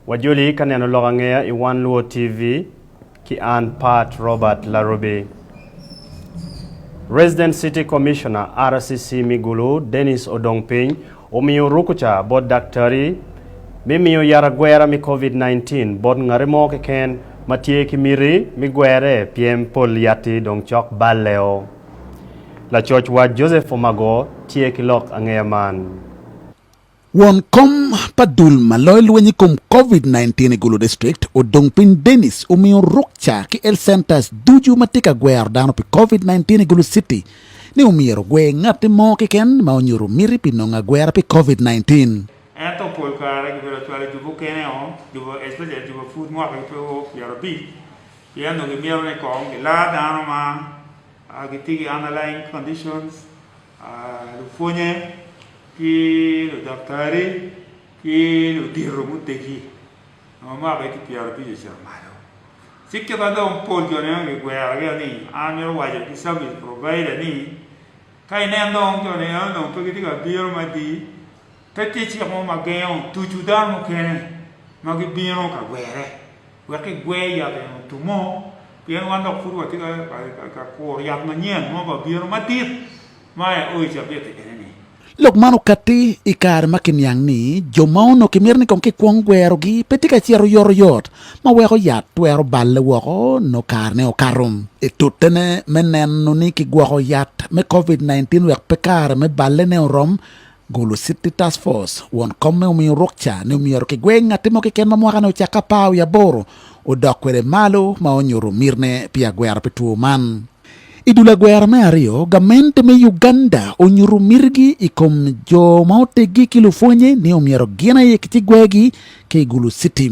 Wajoli ka neno lok angeya i One Luo TV ki an Pat Robert Larubi. Resident City Commissioner, RCC, me Gulu, Dennis Odongpiny omiyo rukuca bot daktari me miyo yat agwera me Covid-19 bot ngati mo keken ma tye ki miti me gwere pien pol yatti dong cok balleo. Lacoc wat Joseph Omago tye ki lok angeya man. Won kom pa dul ma loyo lweny i kom Covid nineteen i Gulu District, Odong Piny Denis omiyo rukca ki health centers ducu ma tye ka gwero dano pi Covid nineteen i Gulu City ni omyero ogwer ngatti mo keken ma onyuto miti pi nongo agwera pi Covid nineteen. Ento pol kare gibedo cwalo jubo kene o, jubo especially jubo pud mwaka ki two pyerabic. Pien onongo gimito ni kong gilar dano ma gitye ki underlying conditions, lupwonye, ki ludaktari, ki ludito mutegi ma omako higgi pyero abic ocito malo. Ci kit ma dong pol jo nieno gigwero gire ni, an amito waco ki service provider ni, ka inen dong jo nieno dong pe gitye ka bino madi, Pe tye cik mo ma gengo tucu dano mukene ma gibino ka gwerre wek kigwer yat eni otum mo, pien wan dok pud watye ka kuro yat manyen mo pa bino madit ma aye o i cabit-ti eni-ni. Lok man okatti i kare ma kiniang ni jo ma onongo kimito ni kong kikwong gwerogi pe tye ka cito oyotoyot, ma weko yat twero balle woko nongo karene okato. I tutene, me neno ni kigwoko yat me Covid nineteen wek pe kare me ballene orom, Golo City Task Force, Won Komme omiyo ruk ca ni myero kigweng ngatti mo keken ma mwakane ocakke apar wiye aboro odok kwede malo ma onyuto mitne pi agwero pi two man. I dul agwero me aryo, gamente me Uganda onyuto mitigi i kom jo ma oteggi ki lupwonye ni omyero gin aye ki ci gwegi ki i Gulu City.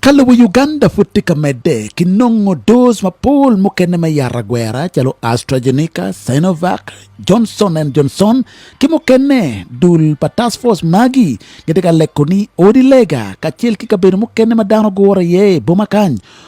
Ka lobo Uganda pud tye ka medde, kinongo doz mapol mukene me yat agwera calo AstraZeneca, Sinovac, Johnson and Johnson ki mukene. Dul pa Task Force magi gitye ka leko ni odi lega kacel ki kabedo mukene ma dano gugure iye i boma kany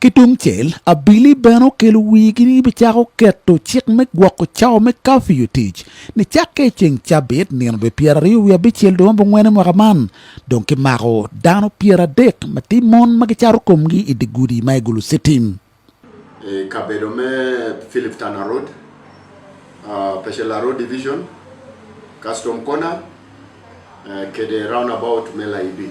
Ki tung cel, abili bene okelo wigi ni gibicako keto cik me gwoko cawa me kafiu i tic ni cakke i ceng cabit nino dwe pyeraryo wiye abicel dwe ma bongwene mwaka man, dong ki mako dano pyeradek ma tye mon ma gicato komgi i dye gudi ma i Gulu Citim. I kabedo me Philip Tana Road, Peshela Road Division, Custom Corner, kede Roundabout me Laibi.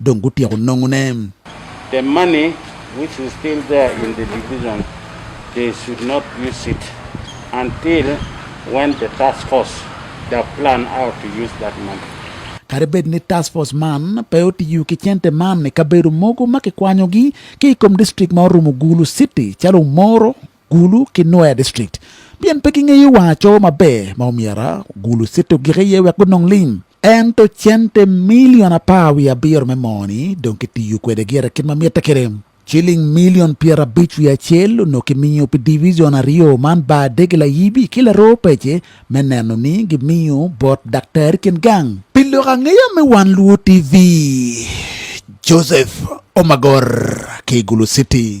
dong gutyeko nongone. The money which is still there in the division they should not use it until when the task force da plan out to use that money. Kadi bed ni task force man pe otiyo ki cente man i kabedo mogo ma kikwanyogi ki i kom district ma orumo Gulu City calo Omoro, Gulu ki Nwoya district pien pe gingeyo wang acowo maber ma omyero Gulu City ogik iye wek gunong lim. Ento cente milion apar wiye abiro me moo-ni dong kitiyo kwede gire kit ma mitte kwede. Ciling milion pyerabic wiye acel onongo kimiyo pi divijon aryo man bar dege layibi ki laroo pece me neno ni gimiyo bot daktari kin gang. Pi lok angeya me Wan Luwo TV, Joseph Omagor ki Igulu City,